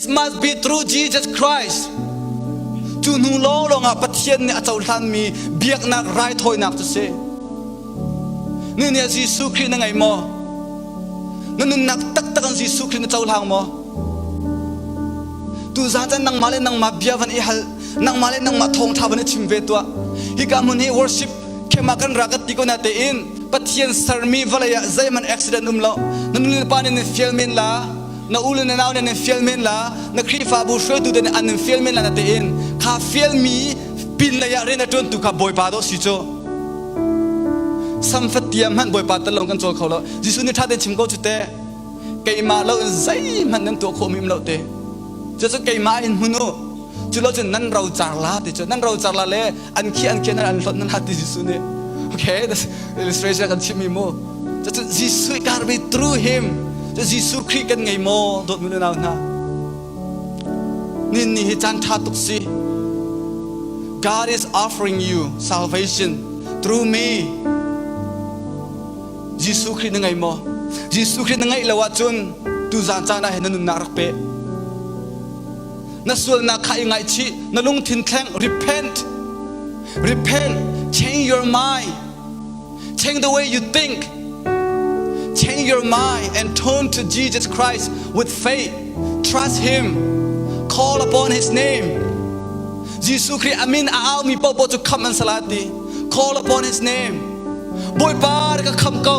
It must be through Jesus Christ. Cu hnu lawng ah Pathian nih a cohlanmi biaknak raithawinak cu si. Nu nih Jesuh Khrih na ngei maw? Na nunnak taktak an Jesuh Khrih na cohlang maw? Tu zaten nangmah le nangmah bia van i hal. Nangmah le nangmah thawngtha van i chim ve tuah. Hika hmun hi worship khema kan ra kan ti ko na tein Pathian sermi vawlei ah zeihman accident um lo. Na nu le pa nih fial men la. na u le na nau nih an fial men la na Khrihfabu hruaitu te nih an fial men la na tiin kha fialmi pin lei ah rian a ṭuantu kha Bawipa dawh si cu samfatiah hmanh Bawipa tal lawng kan cawl kho lo Jesuh nih ṭha te chim ko cu te keimah lo in zeihmanh nan tuah khawhmi lo te cucu keimah in hmun u culo cun nan rocar la ti cu nan rocar la le an khi an ken an hlot nan hat ti Jesuh nih okay this illustration kan chim mi mu cacu Jesuh garbage through him cu Jesuh Christ kan ngei maw dawt nu le nau hna nin ni hi chan tha tuk si God is offering you salvation through me Jesuh Christ na ngei maw Jesuh Christ na ngeih lo ahcun tu zan caan ah hin na nunnak rak pe na sualnak kha i ngaihchih na lungthin thleng repent repent change your mind change the way you think change your mind and turn to Jesus Christ with faith trust him call upon his name Jesuh Christ amin a au mi popo cu kham an salati call upon his name Bawipa ka kham ko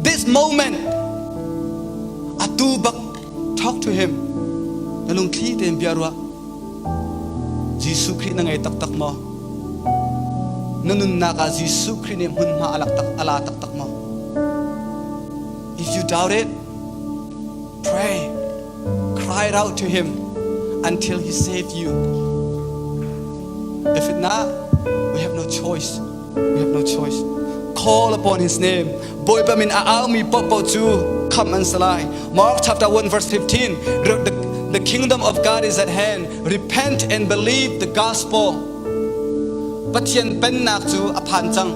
This moment atu bak talk to him na lungthli tein bia ruah Jesuh Khrih na ngei taktak maw na nunnak ah Jesuh Khrih nih hmunhma a lak tak a la taktak maw If you doubt it pray cry out to him until he saved you if not we have no choice We have no choice. Call upon his name. Bawipa min a aumi paohpaoh cu kham an si lai. Mark chapter 1 verse 15. The, the kingdom of God is at hand. Repent and believe the gospel. Pathian pennak cu a phan cang.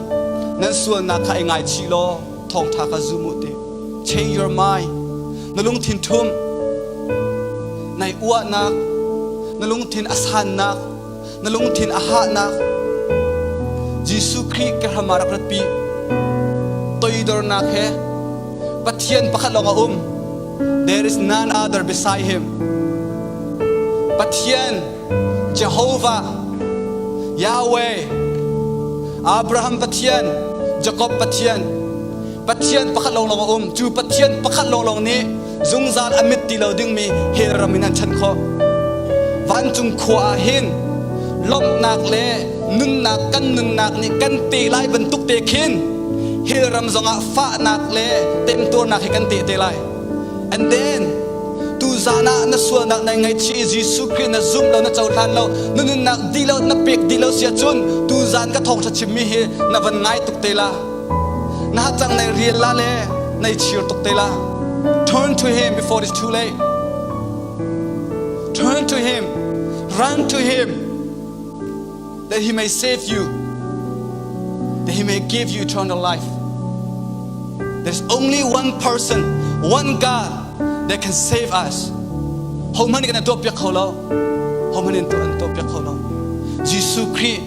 Nan sualnak kha i ngaichih law thawngtha kha zum u te. Change your mind. Na lungthin thum. Nai uahnak. Na lungthin a sannak. na lungthin a hahnak Jesuh Khrih kehram ah rak ratpi. Toidornak he Pathian pakhat lawng a um. There is none other beside him. Pathian, Jehovah, Yahweh, Abraham Pathian, Jacob Pathian, Pathian pakhat lawng lawng a um. Cu Pathian pakhat lawng lawng nih zungzal a mit ti lo dingmi he ram in an chan khawh vancung khua ah hin lawmhnak le nunnak kan nunnak nih kan te lai bantuk te khin hell ram zongah fahnak le temtuarnak hi kan te te lai and then tu zan ah na sualnak na ngaichi Jesuh Christ na zum lo na cohlan lo na nunnak di lo na pek di lo sia cun tu zan ka thawng thla chimmi hi na van ngai tuk te la Na tanglei rial la le nei chir tuk te la. Turn to him before it's too late. Turn to him. Run to him. That he may save you. That he may give you eternal life. There's only one person, one God that can save us. Homan kan tuak piak kho lo. Homan in tu an tuak piak kho lo. Jesu Christ